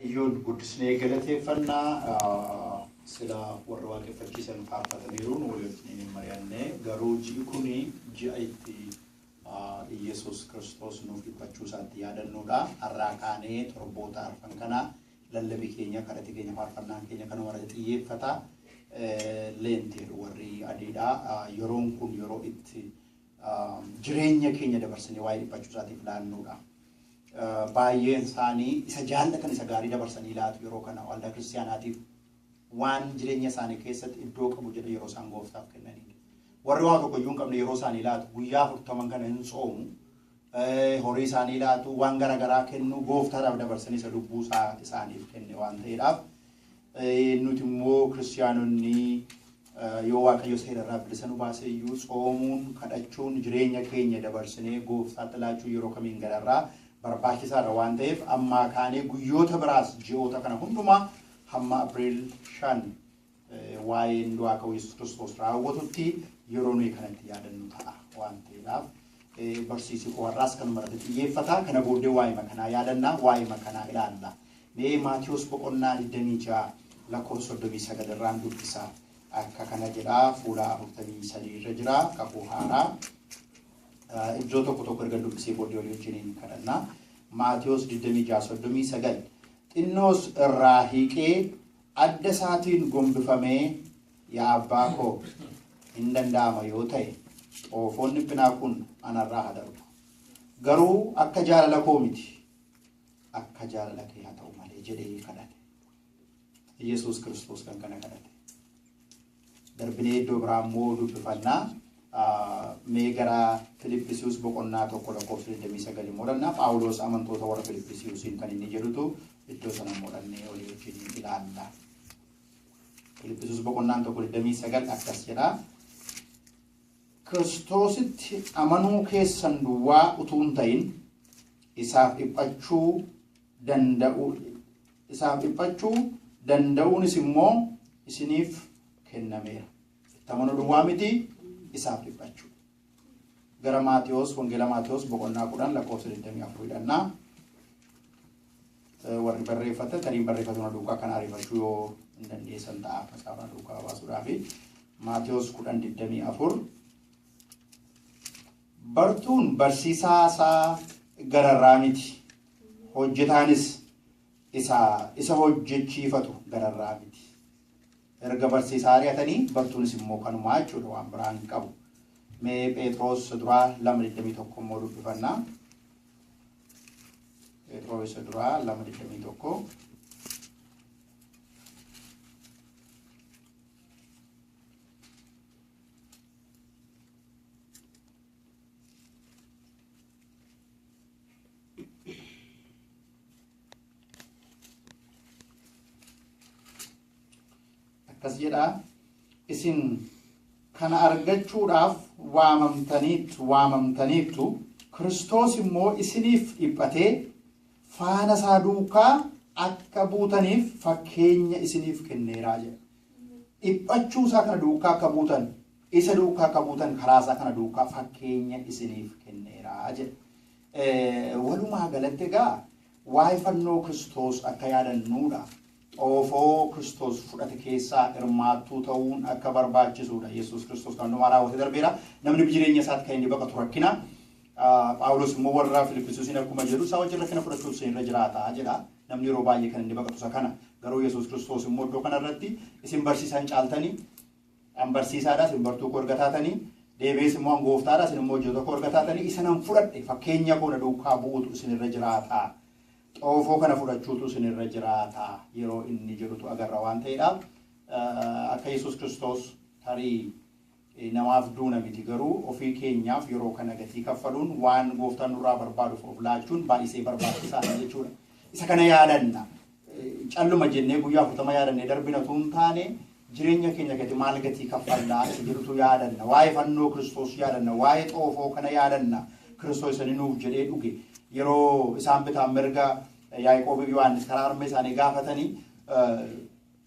Waaqayyoon guddisnee galateeffanna. Sila warra waaqeffachiisan faarfataniiru, nu waliin hin mari'anne. Garuu ji'i kun ji'a itti Iyyesuus Kiristoos nuuf dhiphachuu isaatti yaadannuudha. Har'aa kaanee torboota arfan kana lallabi keenya, kadhati keenya, faarfannaan keenya kanuma irratti xiyyeeffata. Leenti jedhu warri adiidha. Yeroon kun yeroo itti jireenya keenya dabarsanii waa'ee dhiphachuu isaatiif laannuudha. Baay'een isaanii isa jaallatan isa gaarii dabarsanii laatu yeroo kana waldaa kiristaanaatiif waan jireenya isaanii keessatti iddoo qabu jedhan yeroo isaan gooftaaf kennaniidha. Warri waa tokko iyyuu hin qabne yeroo isaanii laatu guyyaa afurtaman kana hin soomu horii isaanii laatu, waan gara garaa kennu, Gooftaadhaaf dabarsanii isa lubbuu isaa isaaniif kenne waan ta'eedhaaf. Nuti immoo kiristiyaanonni yoo Waaqayyo seera irraa bilisa nu baase iyyuu tsoomuun, kadhachuun, jireenya keenya dabarsinee Gooftaatti laachuun yeroo kamiin gararraa barbaachisaadha waan ta'eef ammaa kaanee guyyoota biraas ji'oota kana hundumaa hamma April 5 waa'een du'aa ka'uu Yesuus Kiristoos raawwatutti yeroo nuyi kanatti yaadannu ta'a waan ta'eedhaaf barsiisi koo har'aas kanuma irratti xiyyeeffata. Kana booddee waa'ee makanaa yaadanna, waa'ee makanaa ilaalla. Mee Maatiyus boqonnaa 26 lakkoofsa 39 irraan dubbisa. Akka kana jedha fuula 43 irra jira kakuu haaraa. Iddoo tokko tokko erga dubbisee booddee walii wajjiniin kadhanna. Maatiyus 26:39 xinnoos irraa hiiqee Adda isaatiin gombifamee, Yaa abbaa koo, in danda'ama yoo ta'e, xoofoon dhiphinaa kun ana irraa haa darbu. Garuu akka jaalala koo miti, akka jaalala kee haa ta'u malee jedhee kadhate. Iyyasuus Kiristoos kan kana kadhate. Darbinee iddoo biraa immoo dubbifanna. Mee gara Filiphisius boqonnaa 1 lakkoofsa 29 immoo dhannaa Phaawulos amantoota warra Filiphisiusiin kan inni jedhutu iddoo sana immoo dhannee olii wajjin ilaalla. Filiphisius boqonnaan 1 29 akkas jedha. Kiristoositti amanuu keessan duwwaa utuu hin ta'in isaaf dhiphachuu danda'uu isaan dhiphachuu danda'uunis immoo isiniif kennameera. Itti amanuu duwwaa miti isaaf dhiphachuu. Gara Maatiyos, Wangeela Maatiyos boqonnaa kudhan lakkoofsa 24 hidhannaa. Warri barreeffatan tariin barreeffatu na duukaa kan ariifachuu yoo hin dandeessan ta'a macaafa na duukaa baasuudhaaf. Maatiyos 10:24 Bartuun barsiisaa isaa gararraa miti. Hojjetaanis isa isa hojjechiifatu gararraa miti. Erga barsiisaa ari'atanii bartuunis immoo kanumaa jechuudha waan biraa hin qabu. Mee Pheexroos isa duraa lama digdamii tokko immoo dubbifannaa. Pheexroos isa duraa lama digdamii tokko. akkas jedha isin kana argachuudhaaf waamamtaniittu waamamtaniittu kiristoos immoo isiniif dhiphatee faana isaa duukaa akka buutaniif fakkeenya isiniif kenneeraa jedha dhiphachuu isaa kana duukaa akka buutan isa duukaa akka buutan karaa isaa kana duukaa fakkeenya isiniif kenneeraa jedha Walumaa galatti egaa waa'ee fannoo Kiristoos akka yaadannuudha. Xoofoo Kiristoos fudhate keessaa hirmaattuu ta'uun akka barbaachisuudha. Yesuus Kiristoos kan hundumaa raawwatee darbeera. Namni jireenya isaatti kan inni baqatu rakkina. Phaawulos immoo warra Filiphisiisiin akkuma jedhu isaa wajjin rakkina fudhachuutu isin irra jiraata jedha. Namni yeroo baay'ee kan inni baqatu isa kana. Garuu Yesuus Kiristoos immoo iddoo kanarratti isin barsiisan caaltanii An barsiisaa dha, isin bartuu koo erga taatanii, deebi'ees immoo an gooftaa dha, isin immoo hojjetoota koo erga taatanii, isa nan fudhadhe fakkeenya koo na duukaa bu'uutu isin irra jiraata, xoofoo kana fudhachuutu isin irra jiraata yeroo inni jedhutu agarra waan ta'eedhaaf, akka Yesuus Kiristoos tarii namaaf duuna miti garuu ofii keenyaaf yeroo kana gatii kaffaluun waan gooftaan nurraa barbaaduuf of laachuun baay'isee barbaachisaa dha jechuudha. Isa kana yaadanna. calluma jennee guyyaa 40 yaadannee darbina utuu hin taane jireenya keenya gadi maal gatii kaffallaa isa jedhutu yaadanna. Waa'ee fannoo Kiristoos yaadanna. Waa'ee xoofoo kana yaadanna. Kiristoos isanii nuuf jedhee dhuge. Yeroo isaan bitaan mirga Yaaqoobii fi Yohaannis karaa harmee isaanii gaafatanii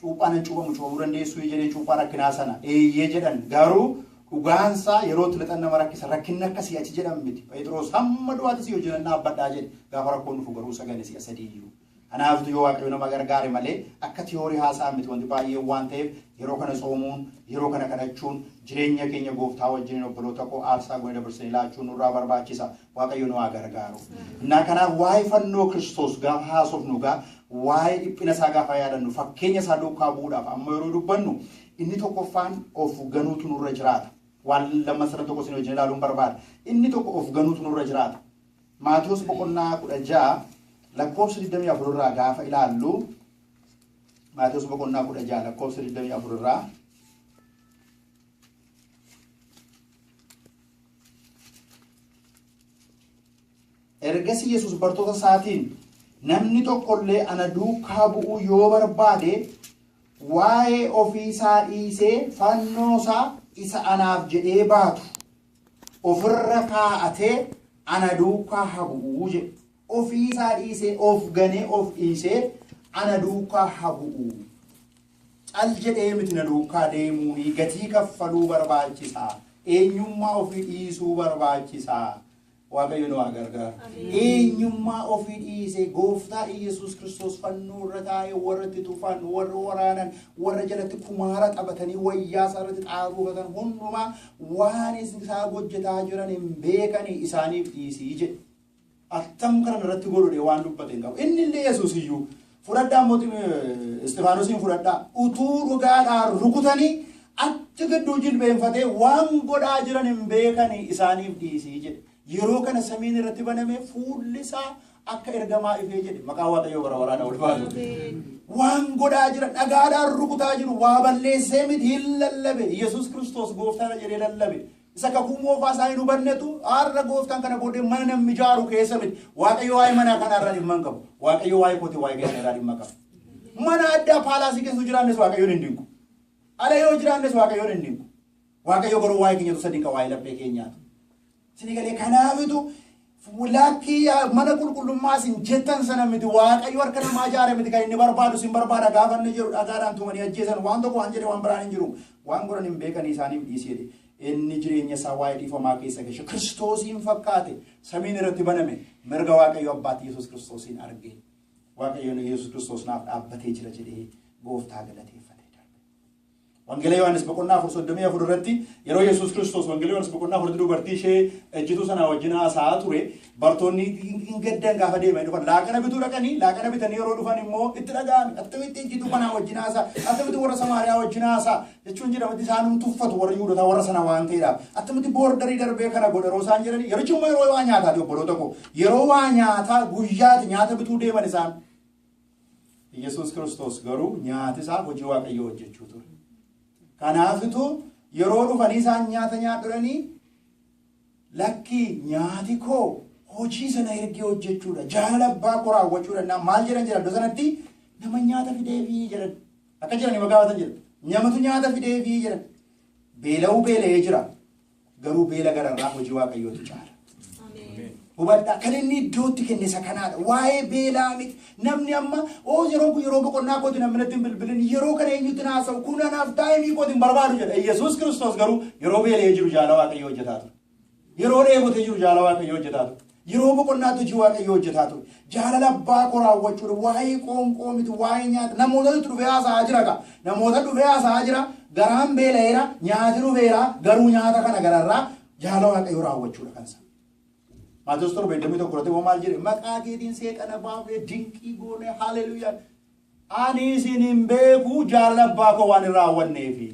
cuuphaa nan cuuphamu cuuphamuu dandeessuu jedheen cuuphaa rakkinaa sana eeyyee jedhan garuu dhugaansaa yeroo itti lixan nama rakkisa rakkinni akkasii achi jedhan miti Pheexiroos hamma du'aatti si hojjetan dhaabbadhaa jedhe gaafa rakkoon dhufu garuu sagale si'a sadii iyyuu Kanaaftu yoo Waaqayyo nama gargaare malee akka tiyoorii haasa'an miti wanti baay'een waan ta'eef yeroo kana tsoomuun, yeroo kana kadhachuun, jireenya keenya gooftaa wajjiniin obboloota koo aarsaa goone dabarsinee laachuun nurraa barbaachisa. Waaqayyo nu haa gargaaru. Innaa kanaaf waa'ee fannoo Kiristoos gaafa haasofnu egaa waa'ee dhiphina isaa gaafa yaadannu fakkeenya isaa duukaa bu'uudhaaf amma yeroo dubbannu inni tokkoffaan of ganuutu nurra jiraata. Waan lamman sadan tokko isin wajjin ilaaluun barbaada. Inni tokko of ganuutu nurra jiraata. Maatewos boqonnaa 16 lakkoofsa 24 irraa gaafa ilaallu Maatewos boqonnaa 16 lakkoofsa 24 irraa ergasii Yesuus bartoota isaatiin namni tokko illee ana duukaa bu'uu yoo barbaade waa'ee ofii isaa dhiisee fannoo isaa isa anaaf jedhee baatu of irra kaa'atee ana duukaa haa bu'uu jedhe. Ofii isaa dhiisee of ganee of dhiisee ana duukaa haa bu'uu. Cal jedhee miti na duukaa deemuu ni gatii kaffaluu barbaachisaa. Eenyummaa ofii dhiisuu barbaachisaa. Waaqayyo nu haa gargaaru. Eenyummaa ofii dhiisee gooftaa Iyyasuus Kiristoos fannoo irra taa'ee warra itti tufaan, warra waraanan, warra jalatti kumaara taphatanii wayyaa isaa irratti xaafuufatan hundumaa waan isaa hojjetaa jiran hin beekani isaaniif dhiisii jedhe. Attam kana irratti godhudhe waan dubbate hin qabu. Inni illee Yesuus iyyuu fudhadhaa mootiin Isxifaanosiin fudhadhaa utuu dhugaadhaan rukutanii achi gidduu jilbeenfatee waan godhaa jiran hin beekani isaaniif dhiisii jedhe. Yeroo kana samiin irratti banamee fuulli isaa akka ergamaa ifee jedhe maqaa waaqayyoo bara baraana ol baatu. Waan godhaa jira dhagaadhaan rukutaa jiru waa balleessee miti hin lallabe Yesuus Kiristoos gooftaadha jedhee lallabe Isa kakuu moofaa isaa hin hubannetu har'a gooftaan kana booddee mana namni ijaaru keessa miti. Waaqayyo waa'ee manaa kanaa irraa dhimma hin qabu. Waaqayyo waa'ee kooti waa'ee keessan irraa dhimma qaba. Mana addaa paalaasii keessa yoo jiraannes waaqayyoon hin dinqu. Ala yoo jiraannes waaqayyoon hin dinqu. Waaqayyo garuu waa'ee keenyatu isa dinqa waa'ee laphee keenyaatu. Sini galee kanaafitu Laakkii mana qulqullummaa isin jettan sana miti waaqayyo harka namaa ijaare miti kan inni barbaadu isin barbaada gaafa inni jedhu dhagaadhaan tumanii ajjeesan waan tokko waan jedhe waan biraan hin jiru waan godhan hin beekanii isaaniif dhiisi jedhe inni jireenya isaa waa'ee dhiifamaa keessa gashe kiristoosiin fakkaate samiin irratti baname mirga waaqayyo abbaatti yesus kiristoosiin arge waaqayyoon yesus kiristoos naaf dhaabbatee jira jedhee gooftaa galateeffate. Wangeela Yohaannis boqonnaa afur soddomii afur irratti yeroo Yesuus Kiristoos Wangeela Yohaannis boqonnaa afurratti dubartii ishee ejjituu sanaa wajjin haasa'aa ture bartoonni hin gaddan gaafa deemanii dhufan laaqana bituu dhaqanii laaqana bitanii yeroo dhufan immoo itti dhaga'ame attamitti ejjituu kanaa wajjin haasaa attamitti warra Samaariyaa wajjin haasaa jechuun jedhamatti isaanum tuffatu warra Yihudotaa warra sana waan ta'eedhaaf attamitti boordarii darbee kana godha yeroo isaan jedhanii yerichi immoo yeroo waa nyaataati obboloota koo yeroo waa nyaataa guyyaati nyaata bituu deeman isaan Yesuus Kiristoos garuu nyaati isaa hojii Waaqayyoo hojjechuu ture. Kanaafitu yeroo dhufanii isaan nyaata nyaadhuranii lakkii nyaati koo hojii sana ergee hojjechuudha. Jaalala abbaa koo raawwachuu danda'a. Maal jedhan jedhan iddoo sanatti nama nyaata fideefii jedhan. Akka jedhanii maqaa baatan jedhan. Namatu nyaata fideefii jedhan. Beela'uu beela'ee jira. Garuu beela gararraa hojii waaqayyootu caala. Hubadhaa kan inni iddootti kenne isa kanaadha. Waa'ee beelaa miti. Namni amma oo yeroo kun yeroo boqonnaa kooti namni natti hin bilbilin yeroo kana eenyutti na haasa'u kun anaaf taa'imii kooti hin barbaadu jedha. Yesuus Kiristoos garuu yeroo beela'ee jiru jaala waaqayyoo hojjetaa ture. Yeroo dheebotee jiru jaala waaqayyoo hojjetaa ture. Yeroo boqonnaatti hojii Waaqayyoo hojjetaa ture. Jaalala abbaa koo raawwachuudha. Waa'ee qoonqoo miti, waa'ee nyaata. Namootatu itti dhufee haasa'aa jira gaa. Namoota dhufee haasa'aa jira, garaan beela'eera, nyaati dhufeera, garuu nyaata kana gararraa jaalala Waaqayyoo raawwachuudha kan isaa. Maatiyoos torba digdamii tokko irratti immoo maal jedhe? Maqaa keetiin seexana baafnee dinqii goone haleluyaa. Ani isin hin beeku jaalala abbaa koo waan hin raawwanneefi.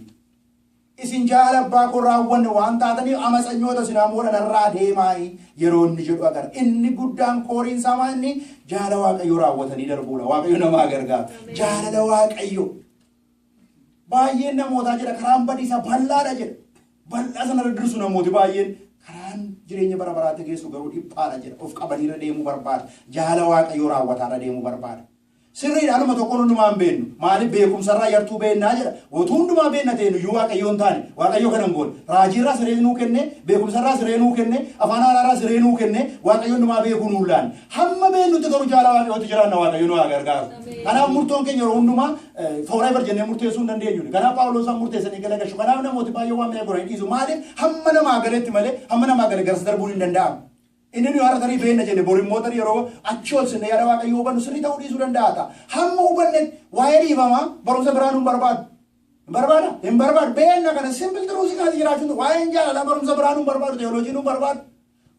Isin jaalala abbaa koo hin raawwanne waan taataniif amatsanyoota isin hamoodha narraa deemaa'i yeroo inni jedhu agarra. Inni guddaan kooriin isaa maa inni jaalala Waaqayyoo raawwatanii darbuudha. Waaqayyo nama haa gargaaru. Jaalala Waaqayyoo. Baay'een namootaa jedha karaan badiisaa bal'aadha jedha. Bal'aa sana irra dirsu namooti baay'een karaan jireenya bara baraatti geessu garuu dhiphaadha jedha. Of qabaniirra deemuu barbaada. Jaalala Waaqayyoo raawwataarra deemuu barbaada. Sirriidha anuma tokkoon hundumaa hin beennu. Maaliif beekumsarraa yartuu beennaa jedha. Utuu hundumaa beenna ta'e nuyyuu waaqayyoo hin taane. Waaqayyoo kana hin goone. Raajiirraa siree nuu kenne, beekumsarraa siree nuu kenne, afaan haaraarraa siree nuu kenne, waaqayyo hundumaa beekuu nuun laanne. Hamma beennutti garuu jaala waaqayyootti jiraanna waaqayyo nu haa gargaaru. Kanaaf murtoon keenya yeroo hundumaa forever jennee murteessuu hin dandeenyu. Kanaaf Phaawulos waan murteessanii gala gashu. Kanaaf namooti baay'ee waan mi'a godhan hin dhiisu. Maaliif hamma namaa galetti malee hamma namaa gale garas darbuun hin danda'amu. Inni nuyi har'a tarii beenna jenne bor immoo tarii yeroo achii ol sinne yaada Waaqayyoo hubannu sirrii ta'uu dhiisuu danda'a ta'a. Hamma hubannetti waa'ee dhiifamaa barumsa biraa nu hin barbaadu. Hin barbaada? Hin barbaadu. Beenna kana simple truth kanatti jiraachuu hin waa'een jaalalaa barumsa biraa nu hin barbaadu teoloojii nu hin barbaadu.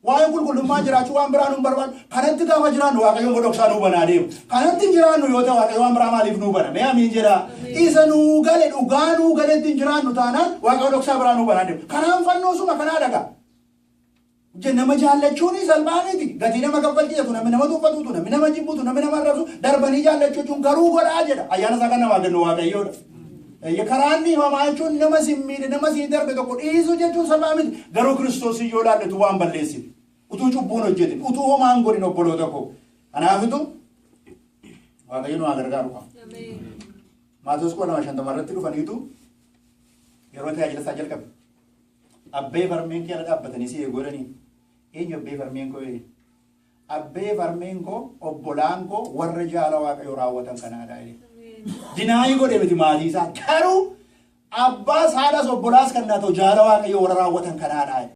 Waa'een qulqullummaa jiraachuu waan biraa nu hin barbaadu. Kanatti gaafa jiraannu Waaqayyo immoo dhoksaa nu hubanaa deema. Kanatti hin jiraannu yoo ta'e Waaqayyo waan biraa maaliif nu hubana? Mee amiin jedhaa. Isa nu gale dhugaa nu galetti hin jiraannu taanaan Waaqayyo dhoksaa biraa nu hubanaa deema. Kanaan fannoo suma kanaa dhagaa. Je, nama jaallachuun salphaa miti. Gatii nama kaffalchiisatu, namni nama tuffatuutu, namni nama jibbutu, namni nama arrabsu darbanii jaallachuu jechuun garuu godhaa jedha. Ayyaana isaa kan namaa kennu waaqayyoodha. Eyye karaan dhiifamaa jechuun nama siin miidhe, nama siin darbe tokko dhiisuu jechuun salphaa miti. Garuu Kiristoos yoo laalletu waan balleessine. Utuu cubbuun hojjetin, utuu homaan godhin obboloota koo. Kanaafitu waaqayyo nu haa gargaaru qaba. Maatoos koo nama shantama irratti dhufaniitu yeroo tajaajila isaa jalqabe. Abbeef harmeen kee ala dhaabbatanii si eegu jedhanii? Eenyu abbeef harmeen koo jedhe? Abbeef harmeen koo obbolaan koo warra jaala waaqayyoo raawwatan kanaadha jedhe. Dinaayii godhe miti maatii isaa garuu abbaas haadhaas obbolaas kan naatoo jaala waaqayyoo warra raawwatan kanaadha jedhe.